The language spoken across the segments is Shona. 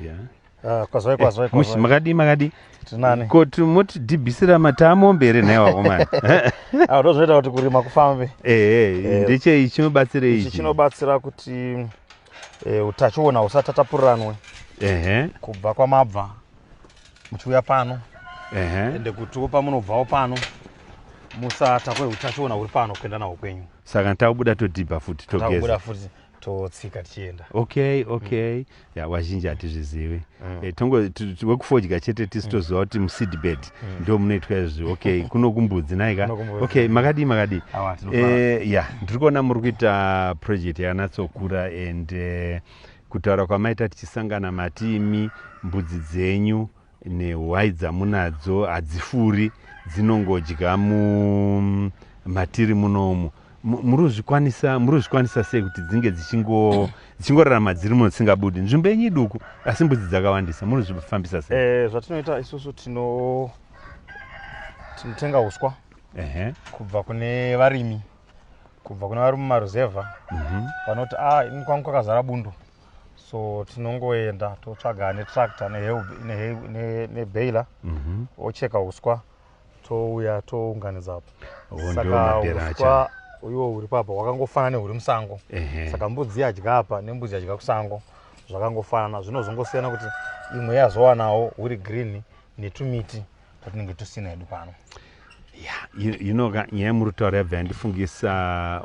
yeah. Ah, kwazvai kwazvai eh, mushi makadii makadii tinani koti moti dhibhisira matamo mberi nhaiwa omani ah, ndozvinoita kuti kurima kufambe ehe eh, ndechei chinobatsira ichi chinobatsira kuti eh, utachiona husatatapuranwe ehe kubva kwamabva muchiuya pano ehe ende kutiwo pamunobvawo pano musatakwe utachiona huri pano kuenda nawo kwenyu saka takubuda todhibha futi togeza totsika tichienda okay okay mm. ya wazhinji hatizvizivi mm. e, tongo wekufodya chete tisi mm. toziva kuti museedbed mm. ndo munoitwa izvi okay kuno kumbudzi naika okay makadii makadii e, eh, ya ndiri kuona muri kuita project yakanatsokura and uh, kutaura kwamaita tichisangana matiimi mbudzi dzenyu Nehwai dzamunadzo hadzifuri dzinongodya mu matiri munomu. Muri kuzvikwanisa muri kuzvikwanisa sei kuti dzinge dzichingo dzichingorarama dziri muno dzisingabudi? Nzvimbo yenyu iduku asi mbudzi dzakawandisa muri kuzvifambisa sei? Eh, zvatinoita isusu tino tinotenga uswa Ehe. kubva kune varimi kubva kune vari mumaruzevha vanoti a ini kwangu kwakazara bundo so tinongoenda totsvaga netractor nebailer mhm. ocheka uswa touya tounganidza saka uswa iwo huri papa hwakangofanana nehuri musango saka mbudzi yadya apa nembudzi yadya kusango zvakangofanana zvinozongosiyana kuti imwe yazowanawo huri green netumiti patinenge tusina hedu pano ya you know ka nyaya yamuri kutaura yabva yandifungisa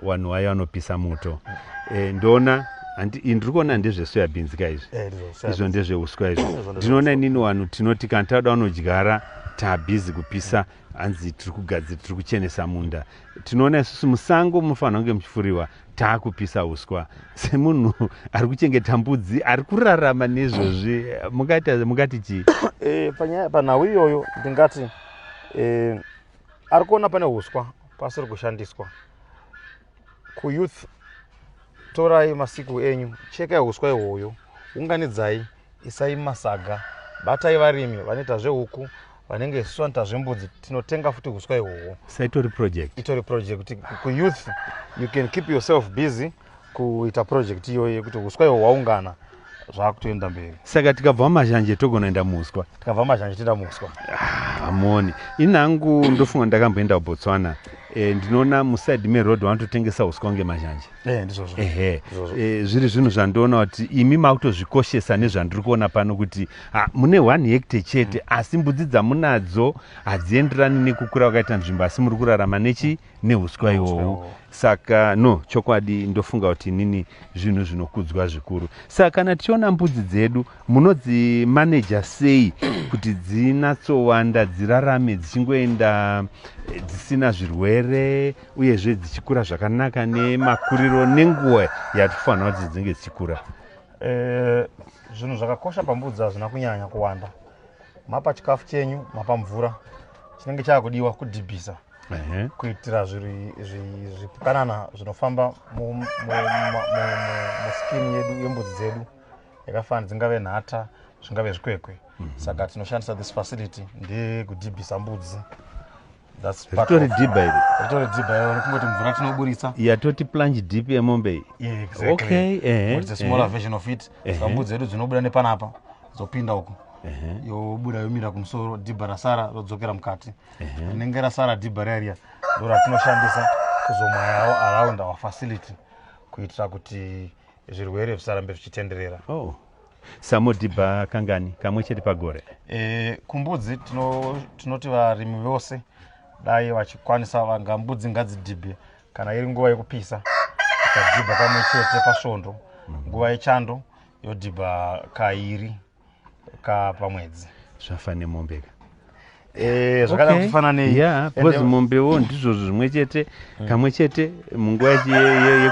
vanhu wayo vanopisa moto eh, ndoona ndiri kuona ndezvesoya bhinzi ka izvi eh, izvo ndezveuswa izvo ndinoona inini vanhu tinoti kana tauda vanodyara taabhizi kupisa hanzi tiri kugadzira tiri kuchenesa munda tinoona isusu musango munofanira kunge muchifuriwa taakupisa uswa semunhu ari kuchengeta mbudzi ari kurarama nezvozvi mungati chii eh, panyaya panhau iyoyo ndingati eh, ari kuona pane uswa pasiri kushandiswa kuyouth torai masiku enyu chekai uswa ihoyo unganidzai isai masaga batai varimi vanoita zvehuku vanenge isu vanoita zvembudzi tinotenga futi huswa ihwohwo saitori project itori project kuti kuyouth you can keep yourself busy kuita project iyoyo yekuti huswa ihwo hwaungana zvakutoenda mberi saka tikabva mazhanje togonoenda muswa tikabva mazhanje toenda muswa hamoni ah, inangu ndofunga ndakamboenda kubotswana e, ndinoona muside meroad vanototengesa uswa kunge mazhanje Eh, ndizvozvo ehe Izvozvo. eh, zviri zvinhu zvandiona kuti imi makutozvikoshesa nezvandiri kuona pano kuti ah, mune one hectare chete asi mbudzi dzamunadzo hadzienderani nekukura kwakaita nzvimbo asi muri kurarama nechi neuswa ihwohwu ihwohwu. saka no chokwadi ndofunga kuti inini zvinhu zvinokudzwa zvikuru saka kana tichiona mbudzi dzedu munodzimaneja sei kuti dzinatsowanda dzirarame dzichingoenda eh, dzisina zvirwere uyezve dzichikura zvakanaka nemakuriro nenguva yatifanira kuti dzinenge dzichikura eh, zvinhu e, zvakakosha pambudzi hazvina kunyanya kuwanda mapa chikafu chenyu mapa mvura chinenge chaakudiwa kudhibhisa kuitira zvipukanana zvinofamba muskini yedu yembudzi dzedu yakafanana dzingave nhata zvingave zvikwekwe mhm. saka tinoshandisa this facility ndekudhibhisa mbudzi ritori dhibha iri ritori dhibha iri kungoti mvura tinoburitsa yatoti plunge deep yemombe iyi yeah, exactly. okay, uh eh, -huh, it's a smaller uh eh. -huh. version of it uh -huh. sambudzi edu dzinobuda nepanapa dzopinda uko yobuda yomira kumusoro dhibha rasara rodzokera mukati rinenge rasara dhibha riya riya ndo ratinoshandisa kuzomwayawo around our facility kuitira kuti zvirwere zvisarambe zvichitenderera oh. Samudhibha kangani kamwe chete pagore? E, kumbudzi tinoti tino varimi vose dai vachikwanisa vanga mbudzi ngadzidhibhe kana iri nguva yekupisa ikadhibha kamwe chete pasvondo mhm. nguva yechando yodhibha kairi kapamwedzi zvafa nemombe ka Eh, zvakada okay. kufana nei yeah, because mombewo ndizvo zvimwe chete mm. kamwe chete munguva yekupisa ye, ye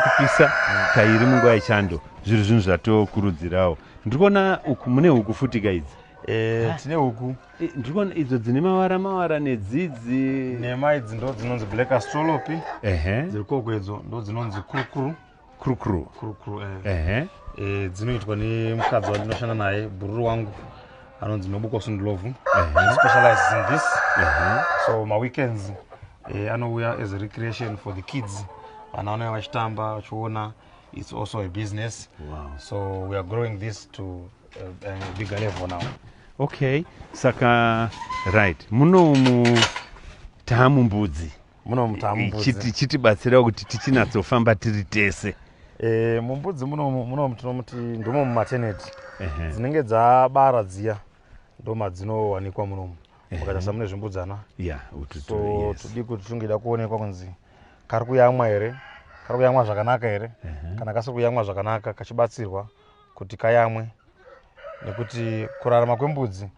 mm. kairi munguva yechando zviri zvinhu zvatokurudzirawo ndiri kuona uku mune huku futika idzi eh, ah. tine huku eh, ndiri kuona idzo dzine mavara mavara nedzidzi nema idzi ndo dzinonzi black astrolopi dziri koko idzo ndo dzinonzi kurukuru krukru krukru eh. ehe eh, dzinoitwa nemukadzi wandinoshanda naye bhururu wangu anonzi nobuko sundulovu specializes in this so maweekends eh, anouya as a recreation for the kids vana vanouya vachitamba vachiona it's also a business wow. so we are growing this to uh, a bigger level now okay saka right muno mu taamumbudzi muno mutambudzi chiti chitibatsira kuti tichinatsofamba tiri tese e, mumbudzi munomu tinomuti ndomo mumateneti dzinenge dzabara dziya ndoma dzinowanikwa munomu mukaita samune zvimbudzana so todi kuti tungida kuonekwa kunzi kari kuyamwa here kari kuyamwa zvakanaka here kana kasiri kuyamwa zvakanaka kachibatsirwa kuti kayamwe nekuti kurarama kwembudzi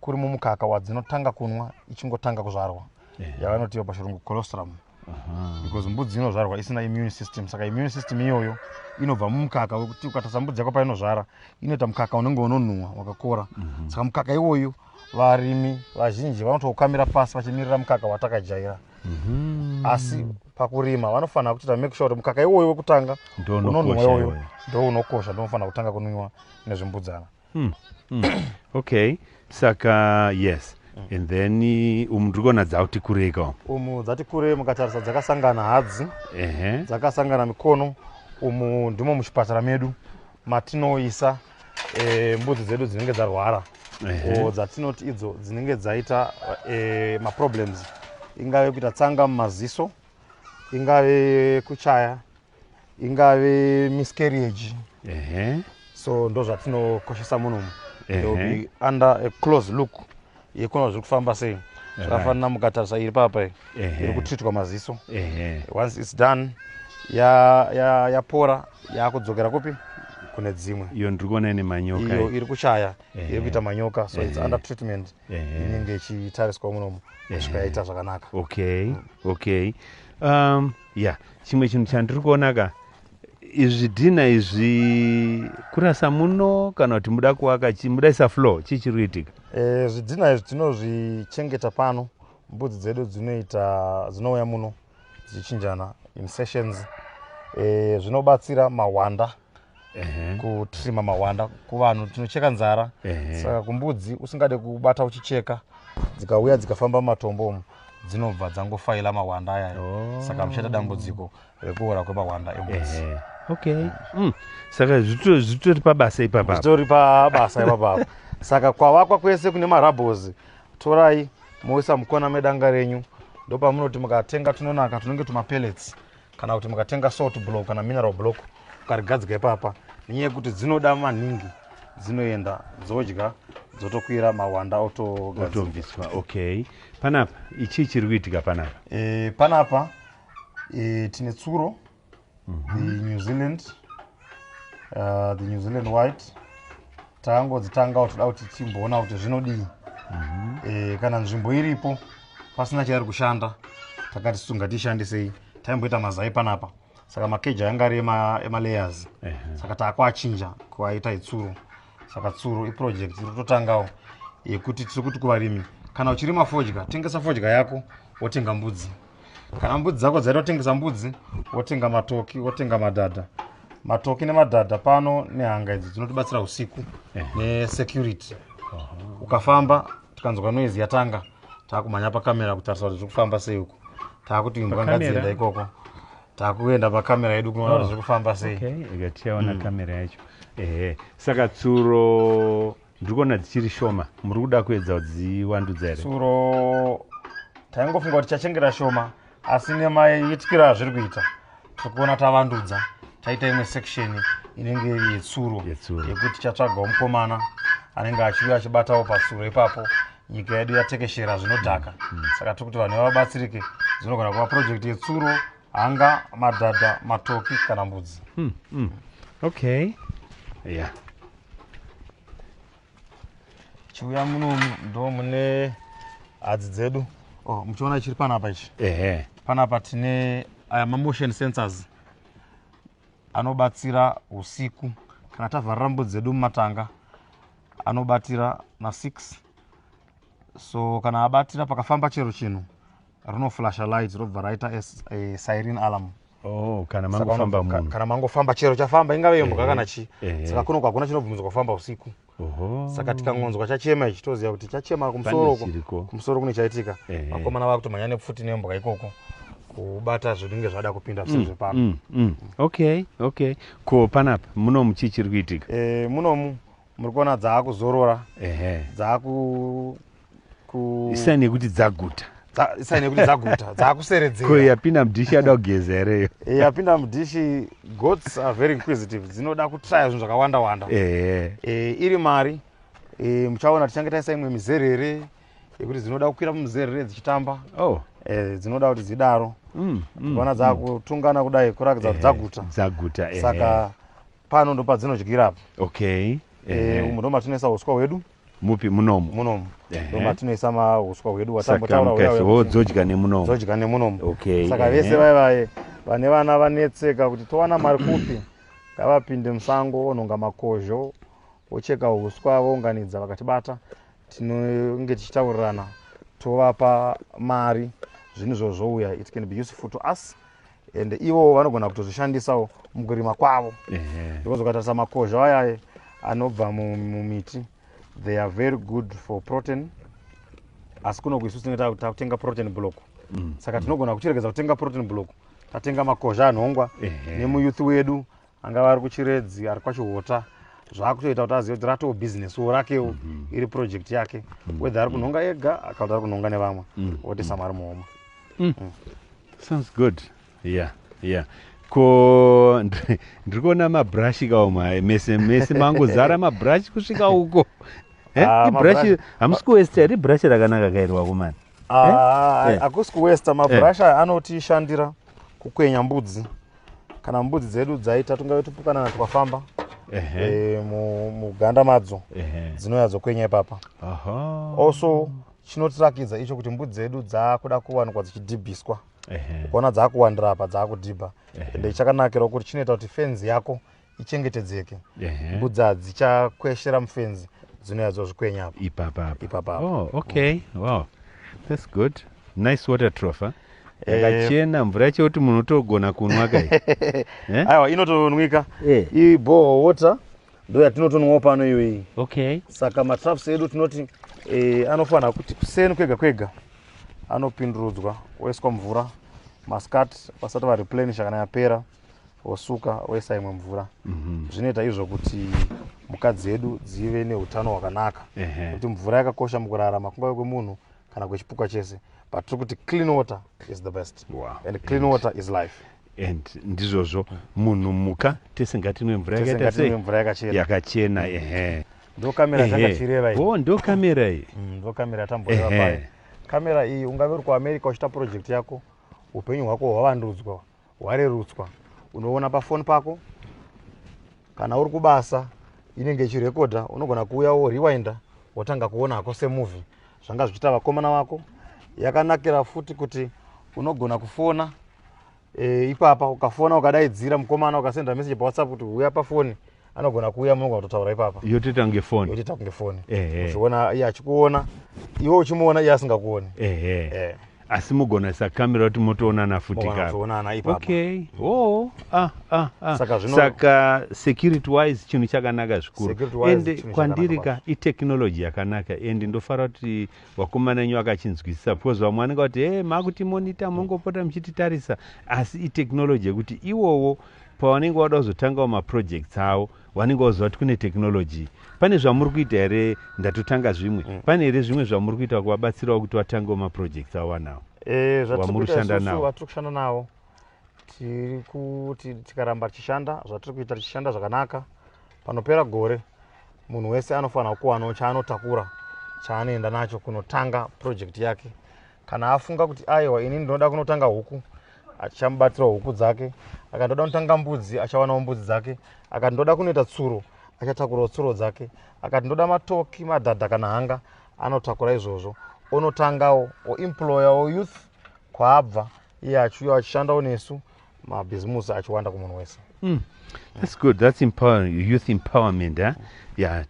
kuri mumukaka wadzinotanga kunwa ichingotanga kuzvarwa yeah. yavanotiwa pachirungu colostrum uh -huh. because mbudzi inozvarwa isina immune system saka immune system iyoyo inobva mumukaka wekuti ukatarisa mbudzi yako painozvara inoita mukaka unenge unonhuwa wakakora mm -hmm. saka mukaka iwoyu varimi vazhinji vanotoukamira pasi vachimirira mukaka watakajaira mm -hmm. asi pakurima vanofanira kutoita make sure kuti mukaka iwoyo wekutanga unonhuwa iwoyo ndounokosha ndonofanira kutanga kunwiwa nezvimbudzana Hmm. Hmm. okay saka yes mm. and then umu ndiri kuona dzauti kurei ka umu dzati kure mukatarisa dzakasangana hadzi ehe dzakasangana mikono umu ndimo muchipatara medu matinoisa e, mbudzi dzedu dzinenge dzarwara o dzatinoti idzo dzinenge dzaita e, maproblems ingave kuita tsanga mumaziso ingave kuchaya ingave miscarriage uh -huh. so ndo zvatinokoshesa munhu umu they will be under a close look yekuona zviri kufamba sei zvakafanira mukatarisa iri papa iri kutritwa maziso once its done yapora yakudzokera kupi kune dzimwe iyo ndiri kuona ine manyoka iyo iri kuchaya iri kuita manyoka so its under treatment inenge ichitariswa munomu kusvika yaita zvakanaka okay okay um, ya yeah. chimwe chinhu chandiri kuona ka izvi dhina izvi kurasa muno kana kuti muda kuwaka mudaisa flow chii chiri kuitika e, zvidhina izvi tinozvichengeta pano mbudzi dzedu dzinoita dzinouya muno dzichinjana in sessions e, zvinobatsira mahwanda kutrima mawanda kuvanhu tinocheka nzara saka kumbudzi usingade kubata uchicheka dzikauya dzikafamba mumatombo umu dzinobva dzangofaila mawanda ayayo oh. saka muchaita dambudziko rekuora kwemawanda embudzi okay mm. saka zvitori pabasa ipapa zvitori pabasa ipapapa saka kwavakwa kwese kune marabos torai moisa mukona medanga renyu ndopamunoti mukatenga tunonaka tunenge tumapellets kana kuti mukatenga salt block kana mineral block ukarigadzika ipapa nenyaya yekuti dzinoda maningi dzinoenda dzodya dzotokwira mawanda otobviswa okay panapa ichii chiri kuitika panapa e, panapa e, tine tsuro mm -hmm. the new zealand uh, the new zealand white tangodzitangawo toda kuti timboona kuti zvinodii mm -hmm. e, eh, kana nzvimbo iripo pasina chairi kushanda takati sunga tishandisei taimboita mazai panapa saka makeji ayanga ari emalayers ema uh -huh. saka taakuachinja kuaita itsuro saka tsuro iproject iri kutotangawo yekuti tiri kuti kuvarimi kana uchirima fodya tengesa fodya yako wotenga mbudzi kana mbudzi dzako dzaita kutengesa mbudzi wotenga matoki wotenga madhadha matoki nemadhadha pano nehanga idzi dzinotibatsira usiku eh. nesecurity ukafamba tikanzwa noise yatanga taakumhanya pakamera kutarisa kuti zviri kufamba sei uko taakuti imbwa ngadzienda ikoko takuenda pakamera yedu kunoona kuti oh, zviri kufamba sei ikatiyaona mm. kamera yacho ehe saka tsuro ndiri kuona dzichiri shoma muri kuda kuedza kudziwandudza here tsuro taingofunga kuti tichachengera shoma asi nemaitikiro azviri kuita tiri kuona tavandudza taita imwe section inenge yetsuro yekuti tichatsvagawo mukomana anenge achiuya achibatawo patsuro ipapo nyika yedu yatekeshera zvinodhaka mm. saka tiri kuti vanhu vabatsirike dzinogona kuva project yetsuro hanga madhadha matoki kana mbudzi mm, mm. okay yeah chiuya muno ndo mune hadzi dzedu oh, muchiona chiri panapa ichi ehe panapa tine aya mamotion sensors anobatsira usiku kana tavharira mbudzi dzedu mumatanga anobatira na 6 so kana abatira pakafamba chero chinhu rinoflasha light robva raita eh, siren alarm Oh, kana mangofamba munhu kana mangofamba chero chafamba ingave imbwa eh, kana chii eh. saka kuno kwakuna chinobvumidzwa kufamba usiku saka tikangonzwa chachema ichi toziva kuti chachema kumusoro kumusoro kune chaitika vakomana vakutomhanya nepfuti nembwa ikoko kubata zvinenge zvada kupinda mm, zvisiri zvepano mm, mm. okay okay ko panapa munomu chii chiri kuitika munomu muri kuona dzaakuzorora ehe dzaaku ku isaini yekuti dzaguta dza- isaini yekuti dzaguta dzaakuseredzera ko yapinda mudhishi yada kugeza here iyo yapinda mudhishi goats are very inquisitive dzinoda kutraya zvinhu zvakawanda wanda ehe e, iri mari e, muchaona tichange taisa imwe mizerere yekuti dzinoda kukwira mumizerere dzichitamba oh e, dzinoda kuti dzidaro mm, mm. kuona dzakutungana kudai kurakidza kuti dzaguta dzaguta ehe. saka pano ndopadzinodyira apo okay eh, eh. umu ndomatinoisa uswa hwedu mupi munomu munomu ndomatinoisa mauswa hwedu watambotauraodzodya nemunomu dzodya nemunomu okay saka vese vaye vaye vane vana vanetseka kuti towana mari kupi ngavapinde musango onhonga makozho vocheka uswa vounganidza vakatibata tinenge tichitaurirana tovapa mari zvinhu zvozvouya it can be useful to us and ivo vanogona kutozvishandisawo mukurima kwavo because ukatarisa makozha ayaye anobva mumiti they are very good for protein asi kunoku isu tinenge takutenga protein block mm. saka tinogona kuchiregedza kutenga protein block tatenga makozha anhongwa nemuyouth wedu angava ari kuchiredzi ari kwachihota zvakutoita kuti azive kuti ratoo business wo rakewo mm -hmm. iri project yake mm -hmm. whether ari kunhonga ega kana kuti ari kunhonga nevamwe mm -hmm. oti samari muhoma mm. mm. sounds good yeah yeah ko ndiri kuona mabrush kawo mwaye mese mese mangozara mabrush kusvika uko eh, ah, ibrush hamusi kuwesta here ibrush rakanaka kairwa kumani ah, eh? eh. akusi kuwesta mabrush aya anotishandira kukwenya mbudzi kana mbudzi dzedu dzaita tungave tupukanana twafamba eh, muganda madzo dzinouya dzokwenya ipapa also chinotirakidza icho kuti mbudzi dzedu dzaakuda kuwanikwa dzichidhibhiswa ukaona dzaakuwandira apa dzaakudhibha ende chakanakirawo kuti chinoita kuti fenzi yako ichengetedzeke Ehe. mbudza dzichakweshera mufenzi dzinouya dzozvikwenya apa ipapa apa Ipapa apa. oh, okay wow that's good nice water trough huh? Eh. yakachena mvura yacho kuti munhu utogona kunwa kai Eh? aiwa inotonwika Eh. iyi boho water ndo yatinotonwawo pano iyo iyi okay saka matraps edu tinoti eh, anofanira kuti kuseni kwega kwega anopindurudzwa oiswa mvura maskati vasati vareplanisha kana yapera wosuka woisa imwe mvura mhm. zvinoita izvo kuti mhuka dzedu dzive neutano hwakanaka kuti mvura yakakosha mukurarama kungave kwemunhu kana kwechipukwa chese but tiri kuti clean water is the best wow. and clean and water is life and ndizvozvo munhu mhuka tese ngatinwe mvura yakachena ehe ndokamera takachireva oh, ndokamera iyi mm, ndokamera tamboreva payo kamera iyi ungave uri kuamerica uchita project yako upenyu hwako hwavandudzwa hwarerutswa unoona pafoni pako kana uri kubasa inenge ichirekodha unogona kuuya wo rewinda wotanga kuona hako semovie zvanga zvichiita vakomana vako yakanakira futi kuti unogona kufona e, ipapa ukafona ukadaidzira mukomana ukasenda message pawhatsapp kuti huya pafoni anogona kuuya munogona kutotaura ipapa yotoita kunge foni yotoita kunge foni uchiona iye achikuona iwe uchimuona iye asingakuoni ehe asi mugona sakamira kuti motoonana futi kaokaokay o oh, ah, ah, ah. saka, zvino... saka security wise chinhu chakanaka zvikuru ende kwandiri ka itechnology yakanaka ende ndofara kuti vakomana enyu vakachinzwisisa because vamwe vanenge vati he makuti monita mongopota muchititarisa asi itechnology yekuti iwowo pavanenge vada kuzotangawo maprojects avo vanenge vaziva kuti kune technology pane zvamuri kuita here ndatotanga zvimwe mm. pane here zvimwe zvamuri kuita kuvabatsirawo kuti vatangewo maprojects avo vanawo eh, vamuri kushanda navo vatiri kushanda navo tiri kuti tikaramba tichishanda zvatiri kuita tichishanda zvakanaka panopera gore munhu wese anofanira kuwanawo chaanotakura chaanoenda nacho kunotanga project yake kana afunga kuti aiwa ini ndinoda kunotanga huku achamubatsirawo huku dzake akati ndoda kunotanga mbudzi achawanawo mbudzi dzake akati ndoda kunoita tsuro achatakurawo tsuro dzake akati ndoda matoki madhadha kana hanga anotakura izvozvo onotangawo oemployawo youth kwaabva iye achiuya achishandawo nesu mabhizimusi achiwanda kumunhu wese mm. that's good that's empower, youth empowerment huh? ya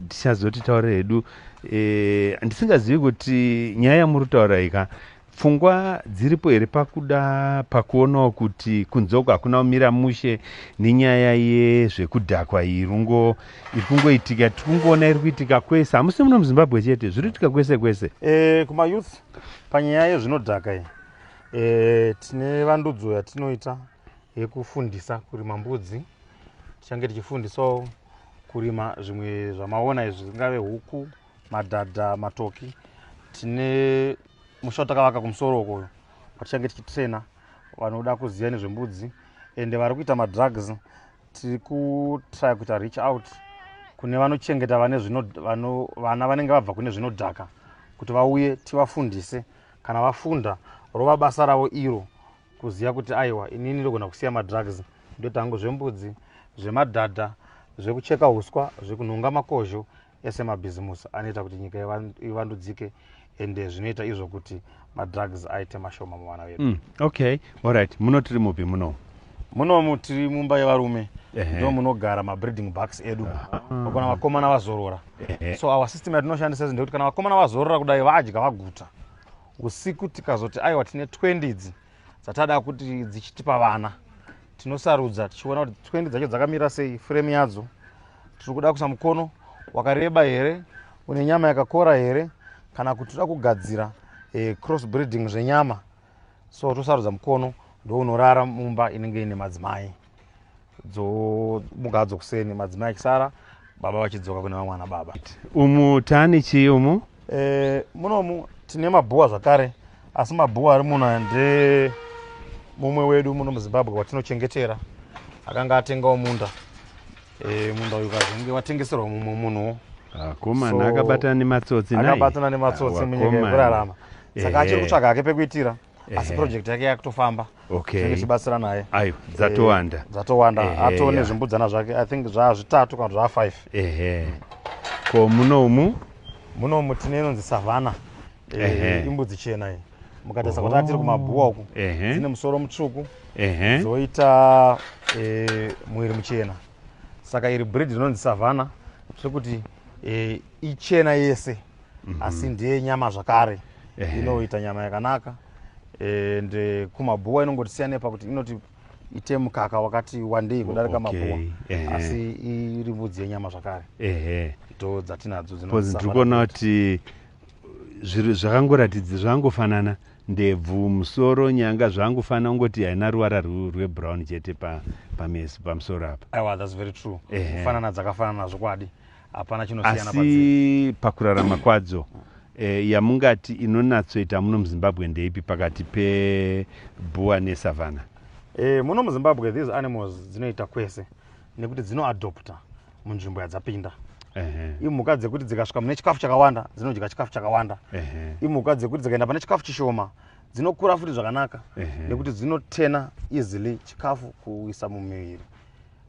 tichazoti taure hedu eh, ndisingazivi kuti nyaya yamuri kutaura ika pfungwa dziripo here pakuda pakuonawo kuti kunze uko hakuna kumira mushe nenyaya yezvekudhakwa iyi rungo iri kungoitika tiri kungoona iri kuitika kwese hamusi muno muzimbabwe chete zviri kuitika kwese kwese e, kumayouth panyaya yezvinodhaka iyi E, tine vandudzo yatinoita yekufundisa kurima mbudzi tichange tichifundisawo kurima zvimwe zvamaona izvi zvingave huku madhadha matoki tine musha watakavaka kumusoro ukoyo kwatichange tichitrena vanoda kuziva nezvembudzi ende vari kuita madrugs tiri kutrya kuita reach out kune vanochengeta vana vanenge vabva kune zvinodhaka kuti vauye tivafundise kana vafunda rova basa ravo iro kuziva kuti aiwa inini ndogona kusiya madrugs ndoita hangu zvembudzi zvemadhadha zvekucheka uswa zvekunhonga makozho ese mabhizimusi anoita kuti nyika ivandudzike ende zvinoita izvo kuti madrugs aite mashoma muvana vedu mm, okay allright muno tiri mupi muno munomu tiri mumba yevarume ndo munogara mabreeding bucks edu vakona vakomana vazorora so our system yatinoshandisa izi ndekuti kana vakomana vazorora kudai vadya vaguta usiku tikazoti aiwa tine 20 idzi dzatada kuti dzichitipa vana tinosarudza tichiona kuti 20 dzacho dzakamira sei frame yadzo tiri kuda kusa mukono wakareba here une nyama yakakora here kana kuti tida kugadzira eh, cross breeding zvenyama so tosarudza mukono ndounorara mumba inenge ine madzimai dzomuka hadzo kuseni madzimai akisara baba vachidzoka kune vamwana baba umu tani chii umu e, munomu tine mabhuwa zvakare asi mabhuwa ari muno nde mumwe wedu muno muzimbabwe watinochengetera akanga atengawo munda Eh, munda uyu kazenge watengeserwa mumwe munhuwo akomana so, akabatana nematsotsi akabatana nematsotsi ah, munyika yekurarama saka achiri kutsvaga hake pekuitira asi project yake yakutofamba okay. tibatsira naye ayo dzatowanda eh, dzatowanda atoo nezvimbudzana zvake i think zvaa zvitatu kana zvaa five ehe ko munomu munomu tine inonzi savana Ehe. imbudzi chena iyi mukatarisa kuti atiri kumabhuwa uku Ehe. dzine musoro mutsvuku Ehe. dzoita eh, mwiri muchena saka iri breed rinonzi savana zvekuti eh, ichena yese asi ndiye nyama zvakare Ehe. inoita nyama yakanaka and eh, kumabhuwa inongotisiyanei pakuti inoti ite mukaka wakati wandei kudarika Okay, mabhuwa ehe. asi iri mbudzi yenyama zvakare Ehe. ndo dzatinadzo Because ndiri kuona kuti Zviro zvakangoratidza zvakangofanana ndebvu musoro nyanga zvakangofanana ungoti haina ruvara rwebrown chete pameso pamusoro apa aiwa thats very true kufanana dzakafanana zvokwadi hapana chinosiyana asi pakurarama kwadzo eh, yamungati inonatsoita muno muzimbabwe ndeipi pakati pebhuwa nesavana eh, muno muzimbabwe these animals dzinoita kwese nekuti dzinoadopta munzvimbo yadzapinda imhuka dzekuti dzikasvika mune chikafu chakawanda dzinodya chikafu chakawanda imhuka dzekuti dzikaenda pane chikafu chishoma dzinokura futi zvakanaka nekuti dzinotena easily chikafu kuisa mumiviri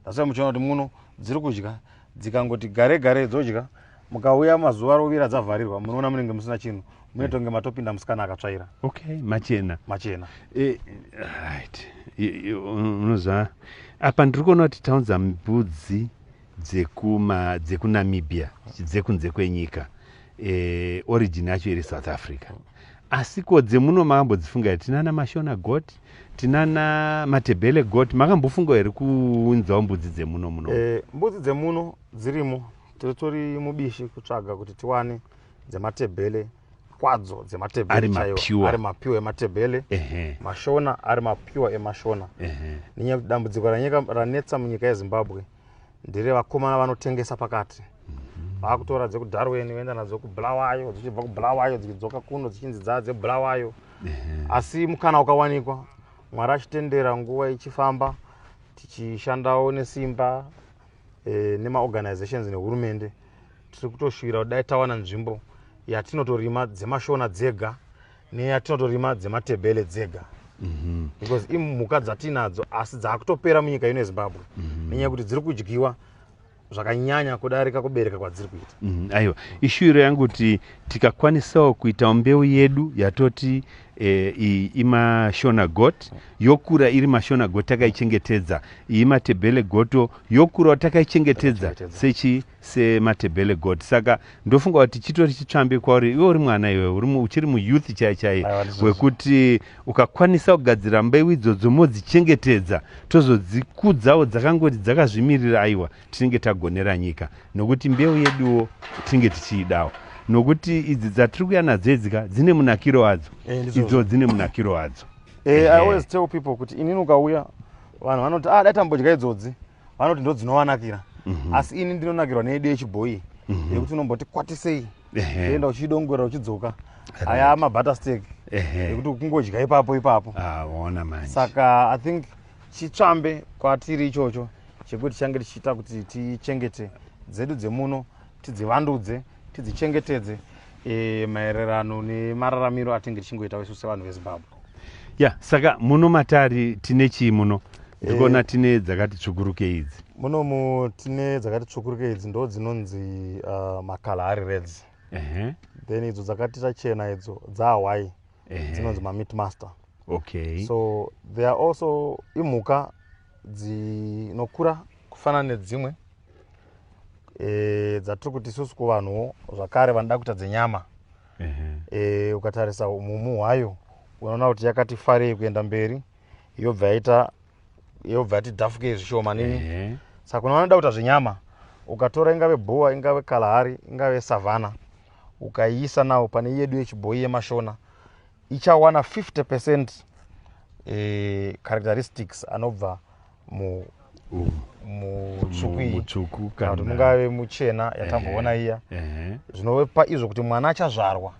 asi muchiona kuti muno dziri kudya dzikangoti gare gare dzodya mukauya mazuva rovira dzavharirwa munoona munenge musina chinhu mune tonge matopinda musikana akatsvaira okay machena machena eh, right unoziva apa ndiri kuona kuti taunza mbudzi dzekuma dzekunamibia dzekunze kwenyika eh, origin yacho iri south africa asi ko dzemuno makambodzifunga here tinana mashona got tinana matebele got makambofunga here kuunzawo mbudzi dzemuno muno eh, mbudzi dzemuno dzirimo Tiritori mubishi kutsvaga kuti tiwane dzematebhele kwadzo dzematebhele chaiwo ari mapiwa ematebhele mashona ari mapiwa emashona nenyaya yekuti dambudziko ranetsa munyika yezimbabwe ndere vakomana vanotengesa pakati mhm. vakutora dzekudarweni voenda nadzo kubulawayo dzichibva kubulawayo dzichidzoka kuno dzichinzi dzaa dzebulawayo asi mukana ukawanikwa mwari achitendera nguva ichifamba tichishandawo nesimba e, nemaorganizations nehurumende tiri kutoshuvira kudai tawana nzvimbo yatinotorima dzemashona dzega neyatinotorima dzematebele dzega mm -hmm. because imhuka dzatiinadzo asi dzaakutopera munyika ino yezimbabwe mm -hmm. nenyaya yekuti dziri kudyiwa zvakanyanya kudarika kubereka kwadziri kuita mm, aiwa ishuviro yangu kuti tikakwanisawo kuitawo mbeu yedu yatoti e, iyi imashona got yokura iri mashona got takaichengetedza iyi matebhele goto yokurawo takaichengetedza sechi sematebhele got saka ndofunga kuti chitori chitsvambe kwauri iwe uri mwana iwe uchiri muyouth chai chai wekuti ukakwanisa kugadzira mbeu idzodzo modzichengetedza tozodzikudzawo dzakangoti dzakazvimirira aiwa tinenge tagonera nyika nokuti mbeu yeduwo tinenge tichiidawo nokuti idzi dzatiri kuya nadzo idzika dzine munakiro wadzo eh, idzo dzine munakiro wadzo eh, i always tell people kuti inini ukauya vanhu vanoti ah dai tambodya idzodzi vanoti ndo dzinovanakira mhm. asi ini ndinonakirwa neyedu yechibhoyi mhm. yekuti unomboti kwatisei enda uchidongorera uchidzoka aya mabutter stek yekuti kungodya ipapo ipapo ah, saka i think chitsvambe kwatiri ichocho chekuti change tichiita kuti tichengete dzedu dzemuno tidzivandudze tidzichengetedze e, maererano nemararamiro atinge tichingoita wesu sevanhu vezimbabwe ya yeah, saka muno matari tine chii muno ndikuona e, tine dzakati tsvukuruke idzi munomu tine dzakati tsvukuruke idzi ndo dzinonzi uh, makala ari reds uh -huh. then idzo dzakatita chena idzo dzahwai uh -huh. dzinonzi mamit master okay so there are also imhuka dzinokura kufanana nedzimwe e, dzatiri kuti isusu kuvanhuwo zvakare vanoda kuita dzenyama uh -huh. e, ukatarisa umumu hwayo unoona kuti yakati farei kuenda mberi yobva yaita yobva yati dhafuke zvishoma nini uh -huh. saka kune vanoda kuita zvenyama ukatora ingave bhowa ingave kalahari ingave savhana ukaiisa nawo pane yedu yechibhoyi yemashona ichawana 50 percent eh, characteristics anobva mu mutsvuku kana kuti mungave muchena yatamboona iya zvinopa izvo kuti mwana achazvarwa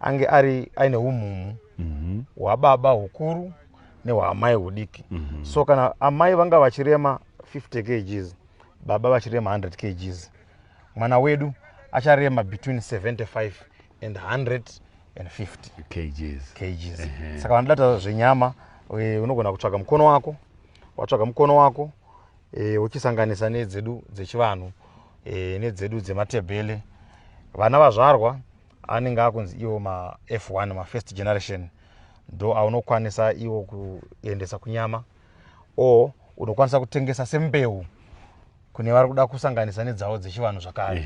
ange ari aine umhumu mhm. hwababa hukuru nehwaamai hudiki mhm. so kana amai vanga vachirema 50 kgs baba vachirema 100 kgs mwana wedu acharema between 75 and 150 kgs, kgs. Uh -huh. saka vanoda taura zvenyama e, unogona kutsvaga mukono wako watsvaga mukono wako e, uchisanganisa nedzedu dzechivanhu e, nedzedu dzematebele vana vazvarwa anenge akunzi iwo maf1 mafirst generation ndo aunokwanisa iwo kuendesa kunyama o unokwanisa kutengesa sembeu kune vari kuda kusanganisa nedzawo dzechivanhu zvakare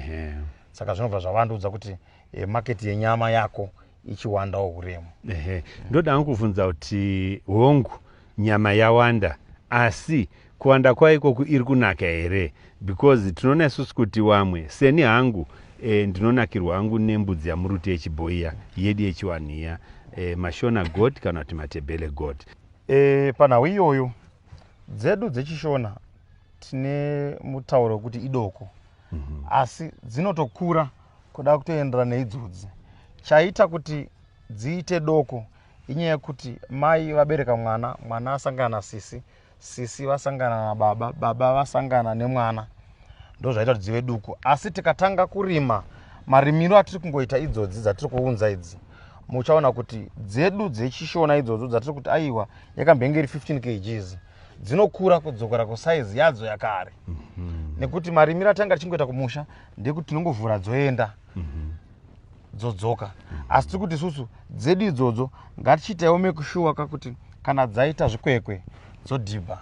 saka zvinobva zvavandiudza kuti e, maketi yenyama yako ichiwandawo huremu ehe ndoda hangu kuvhunza kuti hongu nyama yawanda asi kuwanda kwayo ikoku iri kunaka here because tinoona isusu kuti wamwe seni hangu e, ndinonakirwa hangu nembudzi yamuruti yechibhoiya yedu yechiwanhu iya e, mashona god kana kuti matebele god e, panhau iyoyo dzedu dzechishona tine mutauro wekuti idoko mm -hmm. asi dzinotokura kuda kutoenderana neidzodzi chaita kuti dziite doko inyaya yekuti mai vabereka mwana mwana asangana nasisi sisi vasangana nababa baba vasangana nemwana ndozvaita kuti dzive duku asi tikatanga kurima marimiro atiri kungoita idzodzi dzatiri kuunza idzi muchaona kuti dzedu dzechishona idzodzo dzatiri kuti aiwa yakambenge iri 15 kgs dzinokura kudzokera kusaizi yadzo yakare mm -hmm. nekuti marimiro atanga tichingoita kumusha ndekuti tinongovhura dzoenda mm -hmm. dzodzoka mm -hmm. asi tiri kuti isusu dzedu idzodzo ngatichiitaiwo mekushuwa kakuti kana dzaita zvikwekwe dzodhibha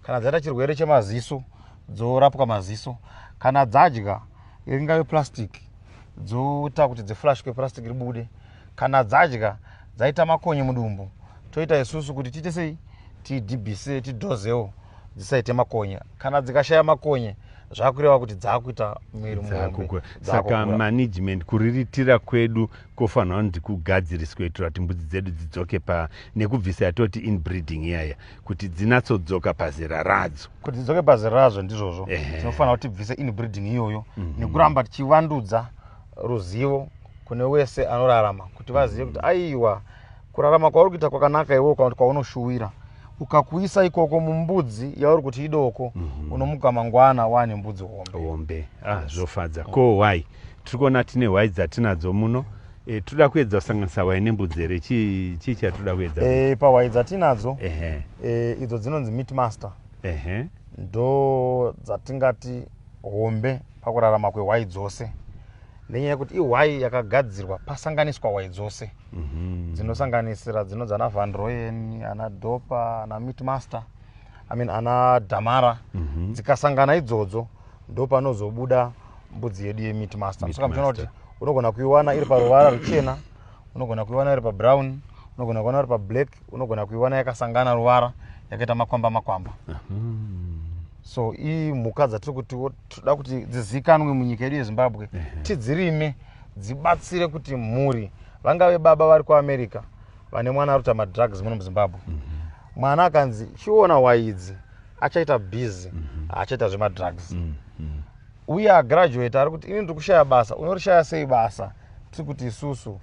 kana dzaita chirwere chemaziso dzorapwa maziso kana dzadya ringave plastic dzoita kuti dziflashwe plastic ribude kana dzadya dzaita makonye mudumbu toita isusu kuti tiite sei tidhibhise tidhozewo dzisaite makonye kana dzikashaya makonye zvakureva kuti dzakuita miri mumombe saka management kuriritira kwedu kofanira kuti kugadziriswe kuitira kuti mbudzi dzedu dzidzoke pa nekubvisa yatoti inbreeding iyaya kuti dzinatsodzoka pazera radzo kuti dzidzoke pazera radzo ndizvozvo tinofanira kuti tibvise inbreeding iyoyo mm -hmm. nekuramba tichivandudza ruzivo kune wese anorarama kuti vazive kuti aiwa kurarama kwauri kuita kwakanaka iwewo kana kuti kwaunoshuwira ukakuisa ikoko mumbudzi yauri kuti idoko mm -hmm. unomuka mangwana wane mbudzi hombe hombe ah, zvofadza ko wai tiri kuona tine hwai dzatinadzo muno e, toda kuedza kusanganisa hwai nembudzi here chii chi chatoda kuedza e, pahwai dzatinadzo e, idzo dzinonzi meat master ndo dzatingati hombe pakurarama kwehwai dzose nenyaya yekuti ihwai yakagadzirwa pasanganiswa hwai dzose mhm. dzinosanganisira mm -hmm. dzinonzi ana van royen ana dopa ana mitmaster i mean ana damara mm -hmm. dzikasangana idzodzo ndopanozobuda mbudzi yedu yemitmaster saka muchiona kuti unogona kuiwana iri paruvara ruchena unogona kuiwana iri pabrown unogona kuiwana iri pablack unogona kuiwana yakasangana ruvara yakaita makwamba makwamba mm -hmm. so imhuka dzatiri kuti tinoda kuti dzizikanwe munyika yedu yezimbabwe tidzirime dzibatsire kuti mhuri vangave baba vari kuamerica vane mwana aruta madrugs muno muzimbabwe mhm. mwana akanzi chiona waidzi achaita busy mhm. achaita zvemadrugs mhm. uye agraduate ari kuti ini ndiri kushaya basa unorishaya sei basa tiri kuti isusu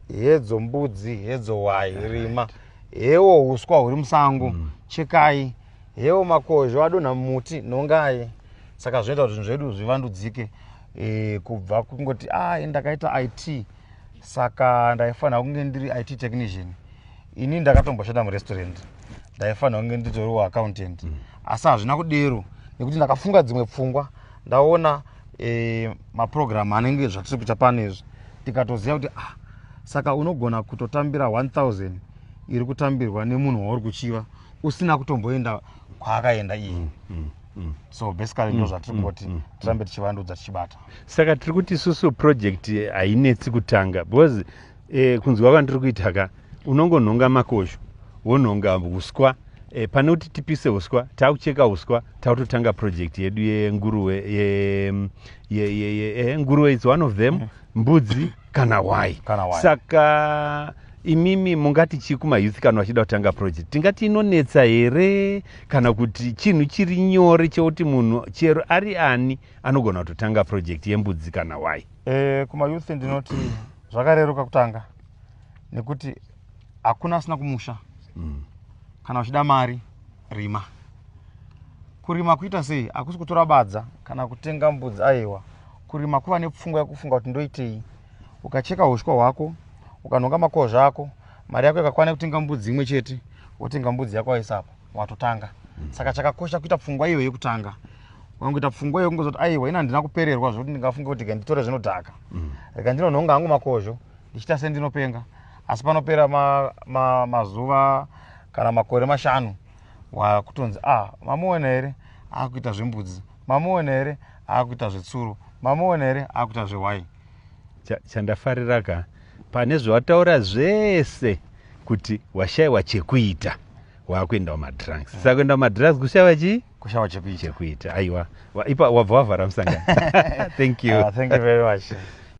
hedzo mbudzi hedzo wayi rima hewo uswa huri musango chekai Hewo makozho adonha mumuti nhongai saka zvinoita kuti zvinhu zvedu zvivandudzike e, kubva kungoti a ah, ndakaita it saka ndaifanira kunge ndiri it technician ini ndakatomboshanda murestaurant ndaifanira kunge nditoriwo accountant mm. asi hazvina kudero nekuti ndakafunga dzimwe pfungwa ndaona e, maprogramu anenge zvatiri kuita pano izvi tikatoziva kuti ah, saka unogona kutotambira 1000 iri kutambirwa nemunhu wauri kuchiva usina kutomboenda kwaakaenda iye mm, mm, mm. so basically ndo zvatiri kungoti tirambe tichivandudza tichibata saka tiri kuti isusu project eh, hainetsi kutanga because eh, kunzwa kwandiri kuita ka unongonhonga makosho wonhonga uswa eh, pane kuti tipise uswa taakucheka uswa taakutotanga project yedu yenguruwe yenguruwe ye, ye, ye, ye, ye, nguruwe is one of them mbudzi kana why saka imimi mungati chii kumayouth kana vachida kutanga project tingati inonetsa here kana kuti chinhu chiri nyore chekuti munhu chero ari ani anogona kutotanga project yembudzi kana why e, kumayouth ndinoti zvakareruka kutanga nekuti hakuna asina kumusha mm. kana uchida mari rima kurima kuita sei hakusi kutora badza kana kutenga mbudzi aiwa Kurima kuva nepfungwa yekufunga kuti ndoitei. Ukacheka hushwa hwako, ukanhonga makozva ako, mari yako ikakwana yekutenga mbudzi imwe chete, wotenga mbudzi yako waisa apa, watotanga. Saka chakakosha kuita pfungwa iyo yekutanga. Ukangoita pfungwa iyo kungozoti aiwa ini handina kupererwa zvekuti ndingafunge kuti rega nditore zvinodhaka. Mm. Rega ndinonhonga hangu makozho ndichiita sendinopenga. Asi panopera ma, ma, mazuva kana makore mashanu wakutonzi ah mamuona here akuita zvembudzi mamuona here akuita zvetsuro mamuona here akuita zvewai chandafarira ka pane zvawataura zvese kuti washaiwa chekuita wakuendawo madrugs mm. sakuenda kumadrugs kushaiwa chii kushaiwa chekuita aiwa ipa wabva wavhara musangano thank you uh, thank you very much